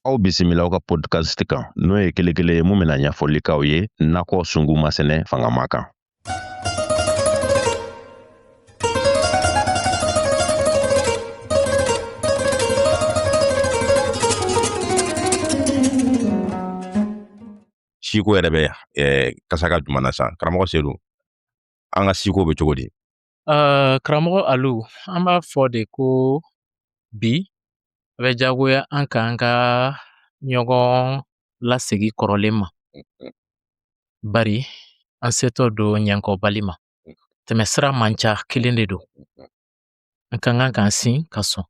aw bisimila aw ka podcast kan n'o ye kelekele ye mun bɛna ɲɛfɔli k'aw ye nakɔ sungu masɛnɛ fangama kan siko yɛrɛ bɛ eh, kasa ka jumɛn na san karamɔgɔ sedu an ka siko bɛ cogo di Uh, karamɔgɔ Alu, an b'a fɔ de ko bi a bɛ jagoya an ka an ka ɲɔgɔn lasegi kɔrɔlen ma. Bari an setɔ don ɲɛnkɔbali ma. Tɛmɛsira man ca kelen de don. An ka kan k'an sin ka sɔn.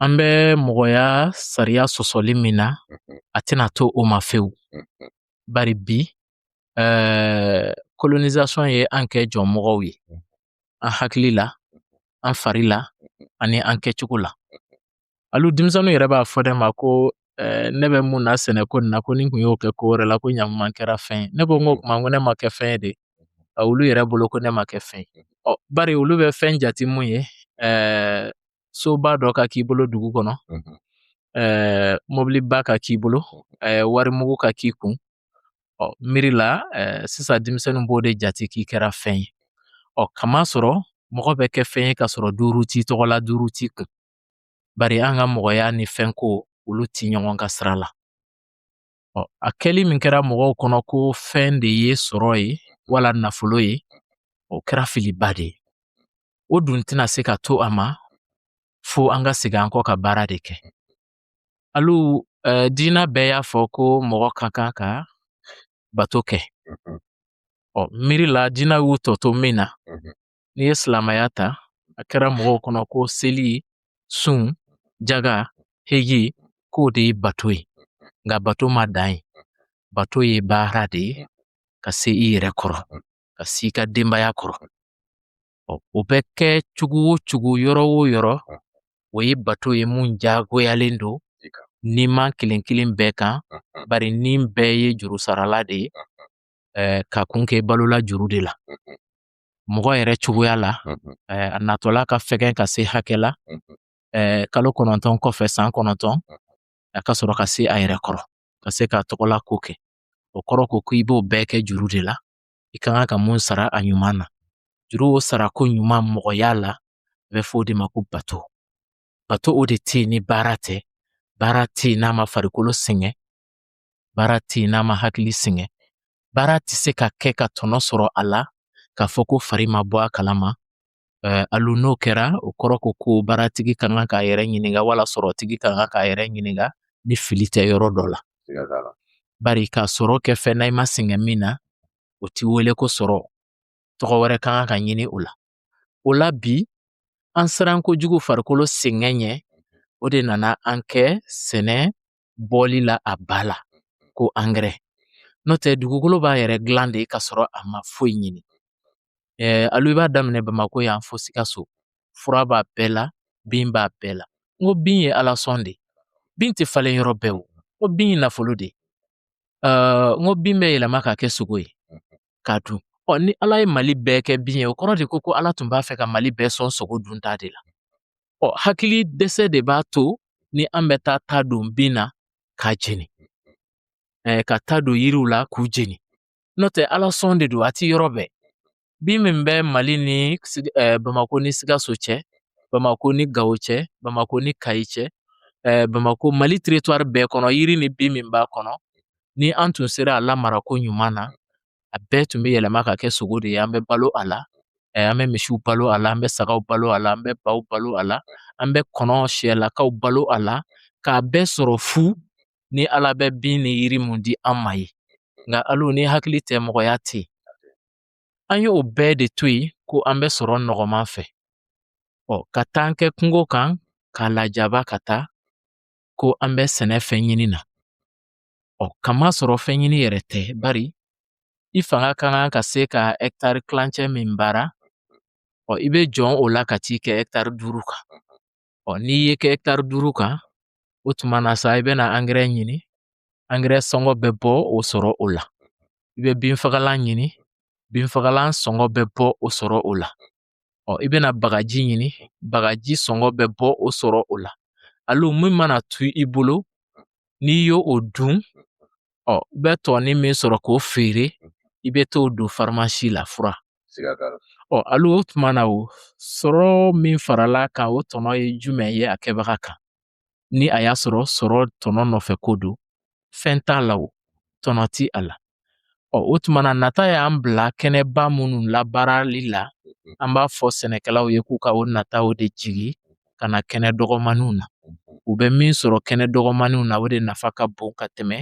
an bɛ mɔgɔya sariya sɔsɔli min na a tɛna to o ma fewu bari bi eh, colonisation ye an kɛ jɔnmɔgɔw ye an hakili la an fari la ani an kɛcogo la hali denmisɛnninw yɛrɛ b'a fɔ ne ma ko eh, ne bɛ mun na sɛnɛko nin na ko ni n kun y'o kɛ ko wɛrɛ la ko ɲaman kɛra fɛn ye ne ko n ko kuma ko ne ma kɛ fɛn ye de olu yɛrɛ bolo ko ne ma kɛ fɛn ye ɔ bari olu bɛ fɛn jate mun ye eh, soba dɔ ka k'i bolo dugu kɔnɔ ɛɛ mɔbiliba ka k'i bolo ɛɛ warimugu ka k'i kun ɔ miiri la ɛɛ sisan denmisɛnninw b'o de jate k'i kɛra fɛn ye ɔ k'a masɔrɔ mɔgɔ bɛ kɛ fɛn ye ka sɔrɔ duuru t'i tɔgɔ la duuru t'i kun bari an ka mɔgɔya ni fɛnko olu ti ɲɔgɔn ka sira la Ɔ a kɛli min kɛra mɔgɔw kɔnɔ ko fɛn de ye sɔrɔ ye wala nafolo ye o kɛra filiba de ye o dun tɛna se ka to a ma fo an ka segin an kɔ ka baara de kɛ alu eh, diina bɛɛ y'a fɔ ko mɔgɔ ka kan ka bato kɛ ɔ miiri la diina y'u tɔ to min na n'i ye silamɛya ta a kɛra mɔgɔw kɔnɔ ko seli sun jaga heji k'o de ye bato ye nka bato ma dan yen bato ye baara de ye ka se i yɛrɛ kɔrɔ ka se i ka denbaya kɔrɔ o bɛ kɛ cogo o cogo yɔrɔ o yɔrɔ o ye bato ye mun jagoyalen don niman kelen kelen bɛɛ kan bari ni bɛɛ ye juru sarala de ye k'a kun kɛ balola juru de la mɔgɔ yɛrɛ cogoya la a natɔla ka fɛgɛn ka se hakɛ la kalo kɔnɔntɔn kɔfɛ san kɔnɔntɔn a ka sɔrɔ ka se a yɛrɛ kɔrɔ ka se k'a tɔgɔlako kɛ o kɔrɔ ko ko i b'o bɛɛ kɛ juru de la i ka kan ka mun sara a ɲuman na juru o sarako ɲuman mɔgɔya la a bɛ fɔ o de ma ko bato bato o de tɛ yen ni baara tɛ baara tɛ yen n'a ma farikolo sɛgɛn baara tɛ n'a ma hakili sɛgɛn baara tɛ se ka kɛ ka tɔnɔ sɔrɔ a la k'a fɔ ko fari ma bɔ a kalama eh, alu n'o kɛra o kɔrɔ ko ko baaratigi ka kan k'a yɛrɛ ɲininka wala sɔrɔtigi ka kan k'a yɛrɛ ɲininka ni fili tɛ yɔrɔ dɔ la bari ka sɔrɔ kɛ fɛn na i ma sɛgɛn min na o ti wele ko sɔrɔ tɔgɔ wɛrɛ ka kan ka ɲini o la o la bi an siran kojugu farikolo sɛgɛn ɲɛ o de nana an kɛ sɛnɛ bɔli la a ba la ko angɛrɛ n'o tɛ dugukolo b'a yɛrɛ dilan de ka sɔrɔ a ma foyi ɲini ɛɛ alu i b'a daminɛ bamakɔ yan fo sikaso fura b'a bɛɛ la bin b'a bɛɛ la n ko bin ye ala sɔn de bin tɛ falen yɔrɔ bɛɛ o n ko bin ye nafolo de ɛɛ n ko bin bɛ yɛlɛma ka kɛ sogo ye k'a dun ɔ ni ala ye mali bɛɛ kɛ bin ye o kɔrɔ de ko ko ala tun b'a fɛ ka mali bɛɛ sɔn sogo dunta de la ɔ hakili dɛsɛ de b'a to ni an bɛ taa ta don bin na k'a jeni ɛɛ ka ta don yiriw la k'u jeni n'o tɛ ala sɔn de don a ti yɔrɔ bɛɛ bin min bɛ mali ni ɛɛ bamakɔ ni sikaso cɛ bamakɔ ni gawo cɛ bamakɔ ni kayi cɛ ɛɛ bamakɔ mali teritwari bɛɛ kɔnɔ yiri ni bin min b'a kɔnɔ ni an tun sera a lamarako ɲuman na a bɛɛ tun bɛ yɛlɛma ka kɛ sogo de ye an bɛ balo a la an bɛ misiw balo a la an bɛ sagaw balo a la an bɛ baw balo a la an bɛ kɔnɔ sɛlakaw balo a la k'a bɛɛ sɔrɔ fu ni ala bɛ bin ni yiri mun di an ma ye nka alu ni hakili tɛ mɔgɔya tɛ an y'o bɛɛ de to yen ko an bɛ sɔrɔ nɔgɔman fɛ ɔ ka taa an kɛ kungo kan k'a lajaba ka taa ko an bɛ sɛnɛ fɛn ɲini na Ɔ k'a masɔrɔ fɛn ɲini yɛrɛ tɛ bari i fanga ka kan ka se ka ɛkitari kilancɛ min baara ɔ i bɛ jɔn o la ka t'i kɛ ɛkitari duuru kan ɔ n'i y'i kɛ ɛkitari duuru kan o tuma na sa i bɛna angɛrɛ ɲini angɛrɛ sɔngɔ bɛ bɔ o sɔrɔ o la i bɛ binfagalan ɲini binfagalan sɔngɔ bɛ bɔ o sɔrɔ o la ɔ i bɛna bagaji ɲini bagaji sɔngɔ bɛ bɔ o sɔrɔ o la alu min mana to i bolo n'i y'o dun ɔ i bɛ tɔɔni min sɔrɔ k'o feere i bɛ t'o don farimasi la fura ɔ alu o tuma na o sɔrɔ min farala kan o tɔnɔ ye jumɛn ye a kɛbaga kan ni a y'a sɔrɔ sɔrɔ tɔnɔ nɔfɛ ko don fɛn t'a la o tɔnɔ ti a la ɔ o tuma na nata y'an bila kɛnɛba minnu labaarali la an b'a fɔ sɛnɛkɛlaw ye k'u ka o nataw de jigi ka na kɛnɛ dɔgɔmaninw na u bɛ min sɔrɔ kɛnɛ dɔgɔmaninw na o de nafa ka bon ka tɛmɛ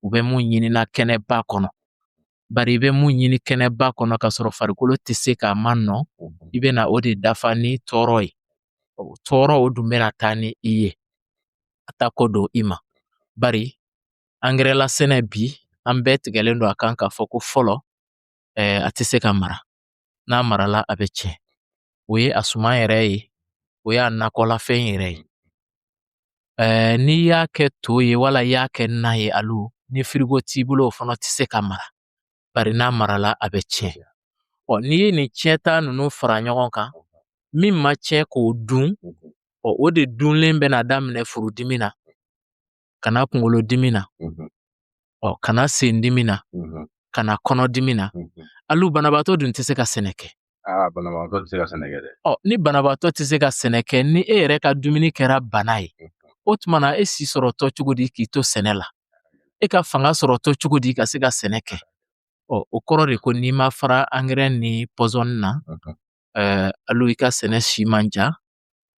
u bɛ mun ɲini na kɛnɛba kɔnɔ Bari i bɛ mun ɲini kɛnɛba kɔnɔ ka sɔrɔ farikolo tɛ se k'a ma nɔ i bɛna o de dafa ni tɔɔrɔ ye tɔɔrɔ o dun bɛna taa ni i ye a ta ko don i ma bari angɛrɛlasɛnɛ bi an bɛɛ tigɛlen don a kan k'a fɔ ko fɔlɔ a tɛ se ka mara n'a marala a bɛ tiɲɛ o ye a suman yɛrɛ ye o y'a nakɔlafɛn yɛrɛ ye ɛɛ n'i y'a kɛ to ye wala i y'a kɛ na ye alu ni firigo t'i bolo o fana tɛ se ka mara bari n'a marala a bɛ tiɲɛ ɔ n'i ye nin tiɲɛta ninnu fara ɲɔgɔn kan min ma tiɲɛ k'o dun ɔ o de dunlen bɛna daminɛ furudimi na ka na kunkolo dimi na ɔ ka na sen dimi na ka na kɔnɔ dimi na alu banabaatɔ dun tɛ se ka sɛnɛ kɛ banabaatɔ tɛ se ka sɛnɛ kɛ dɛ ɔ ni banabaatɔ tɛ se ka sɛnɛ kɛ ni e yɛrɛ ka dumuni kɛra bana ye o tuma na e si sɔrɔtɔ cogo di k'i to sɛnɛ la e ka fanga sɔrɔtɔ cogo di ka se ka sɛnɛ kɛ ɔ o kɔrɔ de ko n'i ma fara angɛrɛ ni pɔsɔni na ɛɛ alu i ka sɛnɛ si man ca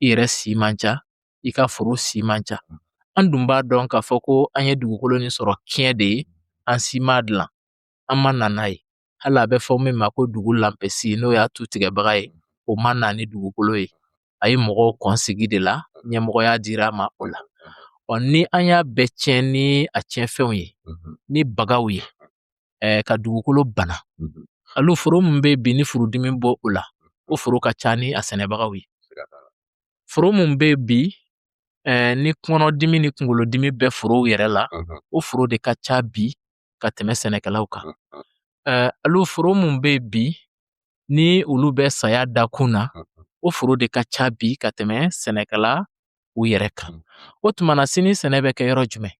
i yɛrɛ si man ca i ka foro si man ca an dun b'a dɔn k'a fɔ ko an ye dugukolo nin sɔrɔ tiɲɛ de ye an si m'a dilan an ma na n'a ye hali a bɛ fɔ min ma ko dugu lanpɛsi n'o y'a tu tigɛbaga ye o ma na ni dugukolo ye a ye mɔgɔw kɔn sigi de la ɲɛmɔgɔya dira a ma o la ɔ ni an y'a bɛɛ tiɲɛ ni a tiɲɛfɛnw ye ni bagaw ye ɛɛ ka dugukolo bana alu foro min bɛ bi ni furudimi b'o la o foro ka ca ni a sɛnɛbagaw ye foro min bɛ bi ɛɛ ni kɔnɔdimi ni kunkolodimi bɛ forow yɛrɛ la o foro de ka ca bi ka tɛmɛ sɛnɛkɛlaw kan ɛɛ alu foro min bɛ bi ni olu bɛ saya dakun na o foro de ka ca bi ka tɛmɛ sɛnɛkɛlaw yɛrɛ kan o tuma na sini sɛnɛ bɛ kɛ yɔrɔ jumɛn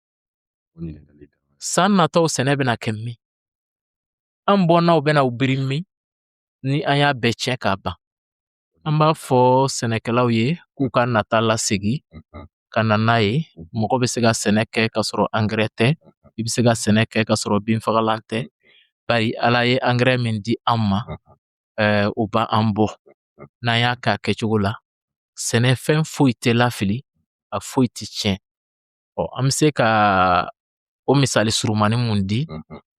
san nataw sɛnɛ bɛna kɛ min an bɔnnaw bɛna u biri min ni an y'a bɛɛ tiɲɛ k'a ban an b'a fɔ sɛnɛkɛlaw ye k'u ka nata lasegin ka na n'a ye mɔgɔ bɛ se ka sɛnɛ kɛ ka sɔrɔ angɛrɛ tɛ i bɛ se ka sɛnɛ kɛ ka sɔrɔ binfagalan tɛ bari ala ye angɛrɛ min di an ma ɛɛ o b'an bɔ n'an y'a k'a kɛcogo la sɛnɛfɛn foyi tɛ lafili a foyi tɛ tiɲɛ Ɔ an bɛ se ka o misali surumani min di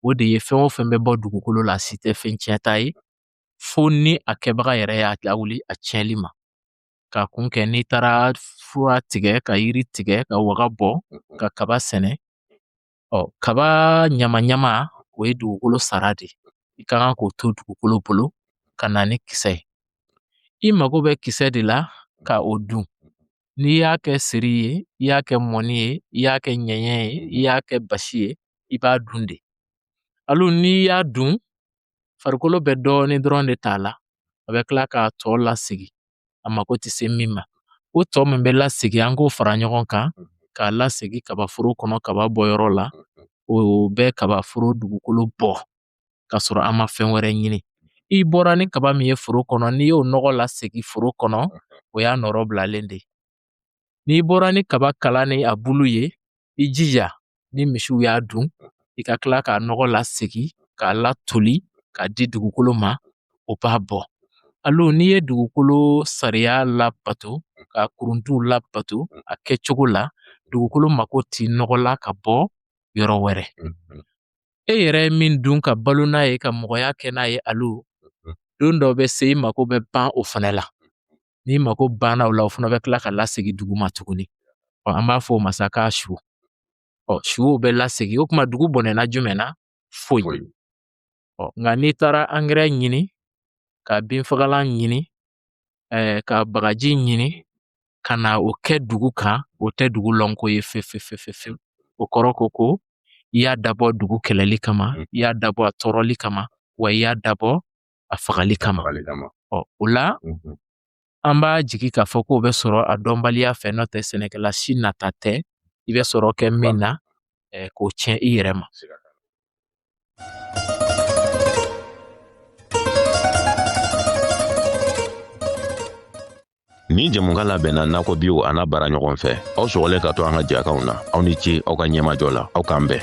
o de ye fɛn o fɛn bɛ bɔ dugukolo la si tɛ fɛn tiɲɛta ye fo ni a kɛbaga yɛrɛ y'a lawuli a tiɲɛli ma ka kun kɛ n'i taara fura tigɛ ka yiri tigɛ ka waga bɔ ka kaba sɛnɛ ɔ kaba ɲama ɲama o ye dugukolo sara de ye i ka kan k'o to dugukolo bolo ka na ni kisɛ ye i mago bɛ kisɛ de la ka o dun N'i y'a kɛ seri ye i y'a kɛ mɔni ye i y'a kɛ ɲɛɲɛ ye i y'a kɛ basi ye i b'a dun de alo n'i y'a dun farikolo bɛ dɔɔnin dɔrɔn de t'a la a bɛ tila k'a tɔ lasegin a mako tɛ se min ma o tɔ min bɛ lasegin an k'o fara ɲɔgɔn kan k'a lasegin kabaforo kɔnɔ kaba bɔyɔrɔ la o bɛ kabaforo dugukolo bɔ ka sɔrɔ an ma fɛn wɛrɛ ɲini i bɔra ni kaba min ye foro kɔnɔ n'i y'o nɔgɔ lasegin foro kɔnɔ o y'a nɔrɔ bilalen de ye n'i bɔra ni kaba kala ni a bulu ye i jija ni misiw y'a dun i ka tila k'a nɔgɔ lasegin k'a latoli k'a di dugukolo ma o b'a bɔ alo n'i ye dugukolo sariya labato ka kuruntuw labato a kɛcogo la dugukolo mako t'i nɔgɔ la ka bɔ yɔrɔ wɛrɛ e yɛrɛ ye min dun ka balo n'a ye ka mɔgɔya kɛ n'a ye alo don dɔ bɛ se i mako bɛ ban o fana la n'i mako banna o la o fana bɛ tila ka lasegin duguma tuguni ɔ an b'a fɔ o ma sa k'a su ɔ suw bɛ lasegin o tuma dugu bɔnɛna jumɛn na foyi ɔ nka n'i taara angɛrɛ ɲini ka binfagalan ɲini ka bagaji ɲini ka na o kɛ dugu kan o tɛ dugu lɔnko ye fefefefefewu o kɔrɔ ko ko i y'a dabɔ dugu kɛlɛli kama mm. i y'a dabɔ a tɔɔrɔli kama wa i y'a dabɔ a fagali kama ɔ o la mm-hmm. an b'a jigi k'a fɔ k'o bɛ sɔrɔ a dɔnbaliya fɛ n'o tɛ sɛnɛkɛla si nata tɛ i bɛ sɔrɔ kɛ min na k'o tiɲɛ i yɛrɛ ma Nin jɛmukan labɛnna nakɔ biw an'a baaraɲɔgɔn fɛ aw sɔgɔlen ka to an ka jɛkanw na aw ni ce aw ka ɲɛmajɔ la aw k'an bɛn